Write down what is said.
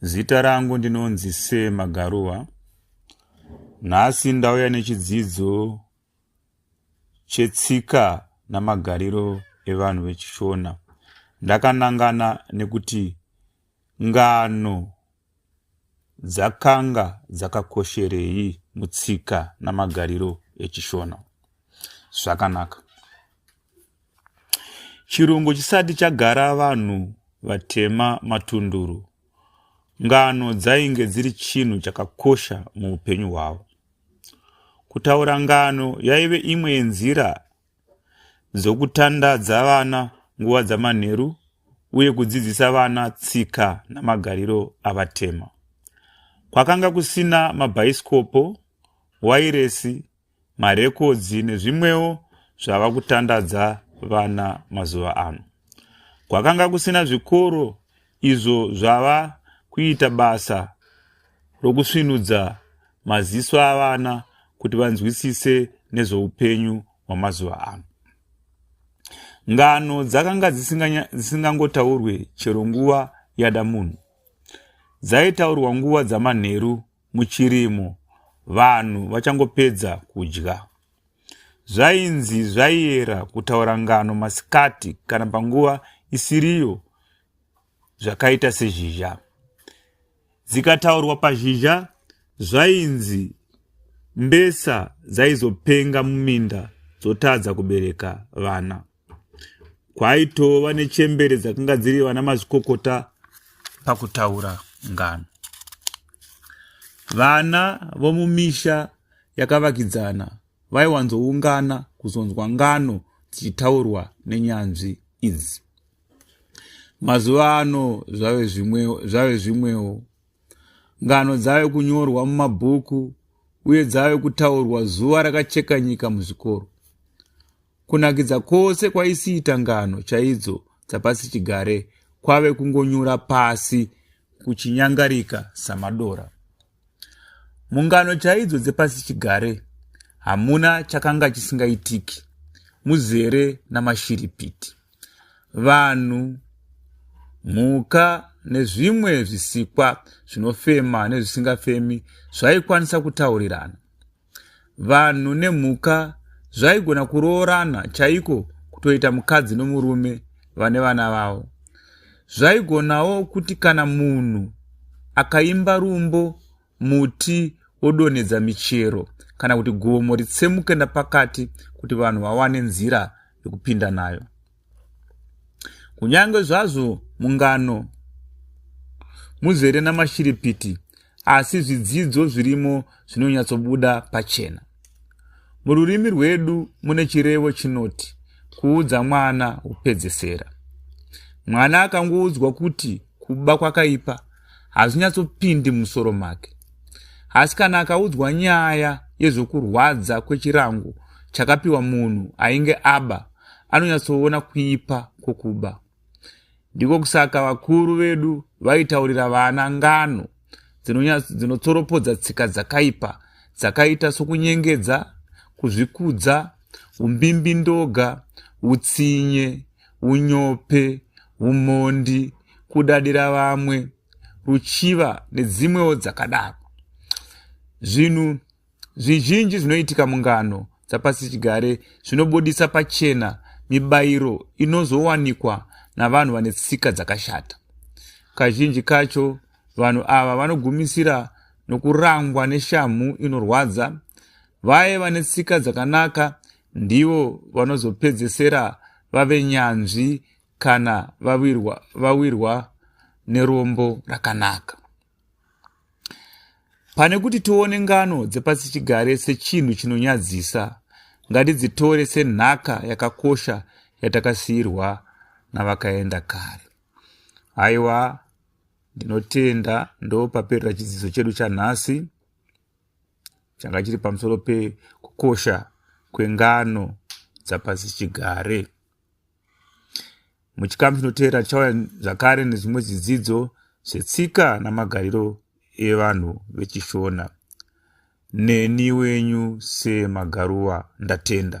Zita rangu ndinonzi Se Magaruwa. Nhasi ndauya nechidzidzo chetsika namagariro evanhu vechishona. Ndakanangana nekuti ngano dzakanga dzakakosherei mutsika namagariro echishona. Zvakanaka. Chirungu chisati chagara vanhu vatema matunduru, ngano dzainge dziri chinhu chakakosha muupenyu hwavo. Kutaura ngano yaive imwe yenzira dzokutandadza vana nguva dzamanheru uye kudzidzisa vana tsika namagariro avatema. Kwakanga kusina mabhaisikopo, wairesi marekodzi nezvimwewo zvava kutandadza vana mazuva ano. Kwakanga kusina zvikoro izvo zvava kuita basa rokusvinudza maziso avana kuti vanzwisise nezveupenyu hwamazuva ano. Ngano dzakanga dzisingangotaurwe chero nguva yada munhu. Dzaitaurwa nguva dzamanheru muchirimo vanhu vachangopedza kudya. Zvainzi zvaiera kutaura ngano masikati kana panguva isiriyo zvakaita sezhizha. Dzikataurwa pazhizha zvainzi mbesa dzaizopenga muminda dzotadza kubereka vana. kwaitova nechembere dzakanga dziri vana mazvikokota pakutaura ngano vana vomumisha yakavakidzana vaiwanzoungana kuzonzwa ngano dzichitaurwa nenyanzvi idzi mazuva ano zvave zvimwewo zvave zvimwewo ngano dzave kunyorwa mumabhuku uye dzave kutaurwa zuva rakacheka nyika muzvikoro Kunakidza kwose kwaisiita ngano chaidzo dzapasi chigare kwave kungonyura pasi kuchinyangarika samadora. Mungano chaidzo dzepasi chigare hamuna chakanga chisingaitiki, muzere namashiripiti. Vanhu, mhuka nezvimwe zvisikwa zvinofema nezvisingafemi zvaikwanisa kutaurirana. Vanhu nemhuka zvaigona kuroorana chaiko kutoita mukadzi nomurume vane vana vavo. Zvaigonawo kuti kana munhu akaimba rumbo muti wodonhedza michero kana kuti gomo ritsemuke napakati kuti vanhu vawane nzira yokupinda nayo. kunyange zvazvo mungano muzere namashiripiti asi zvidzidzo zvirimo zvinonyatsobuda pachena mururimi rwedu mune chirevo chinoti kuudza mwana upedzesera mwana akangoudzwa kuti kuba kwakaipa hazvinyatsopindi musoro make asi kana akaudzwa nyaya yezvokurwadza kwechirango chakapiwa munhu ainge aba anonyatsoona kuipa kwokuba. Ndiko kusaka vakuru vedu vaitaurira vana ngano dzinotsoropodza tsika dzakaipa dzakaita sokunyengedza, kuzvikudza, umbimbindoga, utsinye, unyope, umhondi, kudadira vamwe, ruchiva nedzimwewo dzakadaro. Zvinhu Zvizhinji zvinoitika mungano dzapasichigare zvinobudisa pachena mibayiro inozowanikwa navanhu vane tsika dzakashata. Kazhinji kacho vanhu ava vanogumisira nokurangwa neshamhu inorwadza. Vaye vane tsika dzakanaka ndivo vanozopedzesera vave nyanzvi kana vawirwa, vawirwa nerombo rakanaka. Pane kuti tione ngano dzepasichigare sechinhu chinonyadzisa, ngatidzitore senhaka yakakosha yatakasiyirwa navakaenda kare. Haiwa, ndinotenda ndopaperera chidzidzo chedu chanhasi changa chiri pamusoro pekukosha kwengano dzapasichigare. muchikamu chinoteera tichauya zvakare nezvimwe zvidzidzo zvetsika namagariro evanhu vechishona neni wenyu semagaruwa ndatenda